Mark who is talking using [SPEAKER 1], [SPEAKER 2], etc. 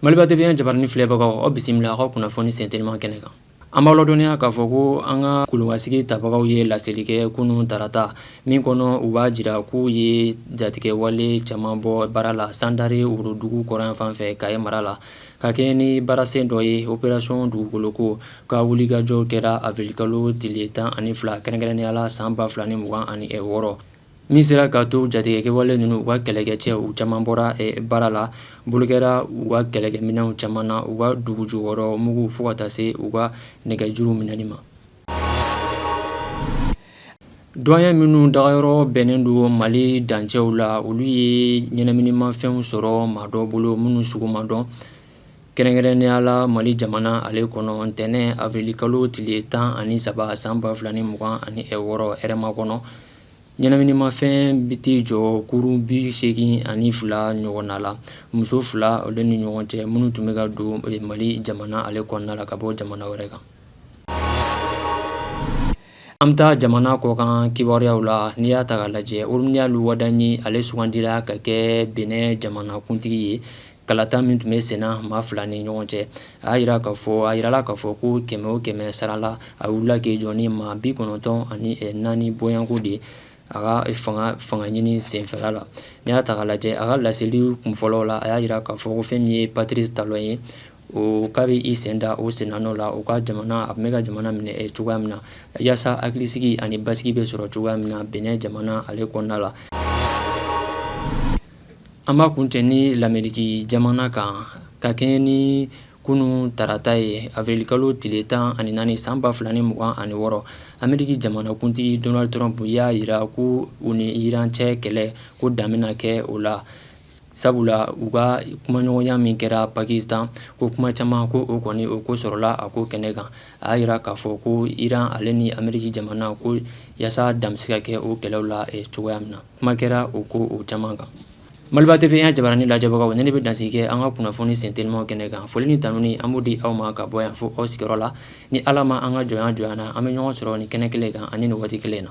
[SPEAKER 1] Maliba TV jabaranin filɛbagaw aw bisimila an ka kunnafoni senteliman kɛnɛ kan an b'aw ladɔnniya k'a fɔ ko an ka kulubansigi tabagaw ye laseli kɛ kunun tarata min kɔnɔ u b'a jira k'u ye jatigɛwale caman bɔ baara la Sandare worodugu kɔrɔn fan fɛ Kayi mara la ka kɛɲɛ ni baarasen dɔ ye operasɔn dugukoloko ka wulikajɔ kɛra awirilikalo tile tan ani fila kɛrɛnkɛrɛnnenya la san ba fila ni mugan ani wɔɔrɔ min sera ka to jatigɛkɛwale ninnu u ka kɛlɛkɛcɛw caman bɔra baara la bolo kɛra u ka kɛlɛkɛminɛnw caman na u ka dugujukɔrɔ mugu fo ka taa se u ka nɛgɛjuru minɛli ma Duwaɲɛ minnu dagayɔrɔ bɛnnen don mali dancɛw la olu ye ɲɛnaminimafɛnw sɔrɔ maa dɔ bolo minnu sugu ma dɔn kɛrɛnkɛrɛnnenya la mali jamana ale kɔnɔ ntɛnɛn awirilikalo tile tan ani saba san ba fila ni mugan ani wɔɔrɔ Hɛrɛmakɔnɔ ɲɛnaminimafɛn bɛ tɛ jɔ kurun bi segin ani fila ɲɔgɔn na la muso fila olu ni ɲɔgɔn cɛ minnu tun bɛ ka don mali jamana ale kɔnɔna la ka bɔ jamana wɛrɛ kan An bɛ taa jamana kɔkan kibaruyaw la n'i y'a ta k'a lajɛ Romuald Wadagni ale sugandira ka kɛ Benin jamanakuntigi ye kalata min tun bɛ senna maa fila ni ɲɔgɔn cɛ a jirala k'a fɔ ko kɛmɛ o kɛmɛ sara la a wulila k'i jɔ ni maa bi kɔnɔntɔn ani naani bɔyanko de ye a ka fanga ɲini senfɛla la n'i y'a ta k'a lajɛ a ka laseli kunfɔlɔ la a y'a jira k'a fɔ ko fɛn min ye Patrice Talon ye o k'a bɛ i sen da o sennɔ la o ka jamana a tun bɛ ka jamana minɛ cogoya min na yaasa hakilisigi ani basigi bɛ sɔrɔ cogoya min na Benin jamana ale kɔnɔna la an b'a kuncɛ ni lameriki jamana kan ka kɛɲɛ ni kunun tarata ye awirilikalo tile tan ani naani san ba fila ni mugan ani wɔɔrɔ ameriki jamanakuntigi Donald Trump y'a jira ko u ni Iran cɛ kɛlɛ ko dan bɛna kɛ o la Sabula u ka kumaɲɔgɔnya min kɛra pakistan ko kuma caman ko o kɔni o ko sɔrɔla a ko kɛnɛ kan a y'a jira k'a fɔ ko Iran ale ni ameriki jamana ko yaasa dan bɛ se ka kɛ o kɛlɛw la cogoya min na kuma kɛra o ko o caman kan maliba TV jabaranin lajɛbagaw ne bɛ dansigi kɛ an ka kunnafoni sentelimanw kɛnɛ kan foli ni tanuni an b'o di aw ma ka bɔ yan fo aw sigiyɔrɔ la ni ala ma an ka jɔn jɔ na an bɛ ɲɔgɔn sɔrɔ ni kɛnɛ kelen kan ani ni waati kelen na